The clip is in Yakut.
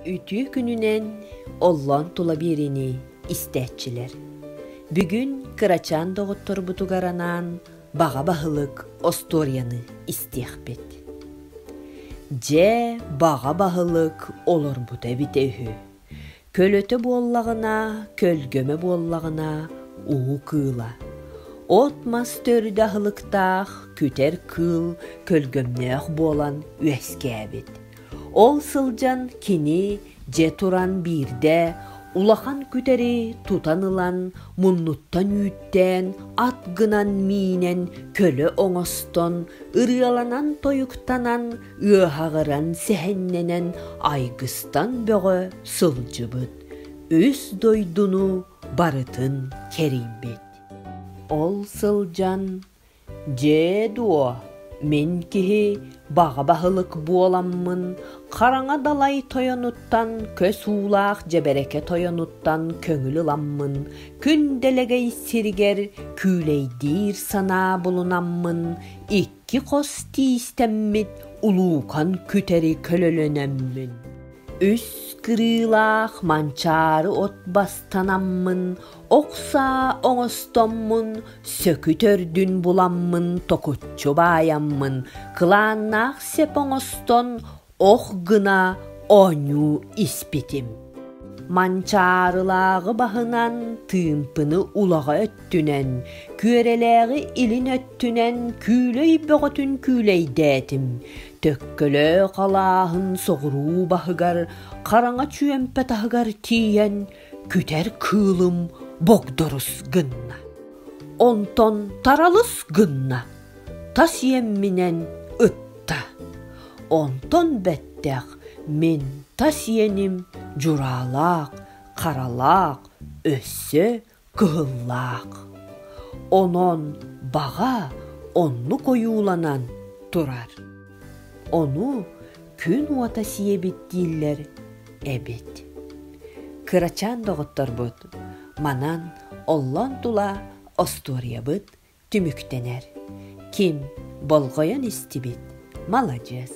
Үтүө күнүнэн оллоон тула биэриини истээччилэр. Бүгүн кырачаан доҕотторбутугар анаан баҕа баһылык остуоруйаны истиэхпит. Дьэ, баҕа баһылык олорбута эбитэ үһү. Көлөтө буоллаҕына, көлгөмө буоллаҕына, уу кыыла. От-мас төрүт аһылыктаах күтэр кыыл көлгөмнөөх буолан үөскээбит. Ол сылдьан кини дьэ туран биирдэ улахан күтэри тутан ылан муннуттан үүттээн ат гынан миинэн көлө оҥостон ырыаланан тойуктанан ыаһаҕыран сэһэннэнэн айгыстан бөҕө сылдьыбыт үс дойдуну барытын кэрийбит ол сылдьан Дьээ дуо, мин киһи баҕа баһылык буоламмын хараҥа далай тойонуттан, көс уулаах дьэбэрэкэ тойонуттан көҥүл ыламмын, күн дэлэгэй сиригэр күүлэйдиир санаа булунаммын, икки хос тиистэммит улуукан күтэри көлөлөнөммүн, үс кырыылаах манчаары от бастанаммын Охсаа оҥостоммун, сөкүтөрдүн буламмын, токуччу баайаммын, кылааннаах сеп оҥостон, ох гына оонньуу испитим. Манчаарылааҕы баһынан, тыымпыны улаҕа өттүнэн, күөрэлээҕи илин өттүнэн күүлэй бөҕөтүн күүлэйдээтим. Төккөлөөх алааһын соҕуруу баһыгар, хараҥа чүөмпэ таһыгар тиийэн, Күтэр кыылым богдорус гынна, онтон таралыс гынна, тас иэмминэн ытта. Онтон бэттэх мин тас иэним дьураалаах, харалаах, өссө кыһыллаах. Онон баҕа оннук ойууланан турар. Ону күн уота сиэбит дииллэр эбит. Кырачаан доҕотторбут манан оллон тула остуоруйабыт түмүктэнэр. Ким болҕойон истибит, маладьыас.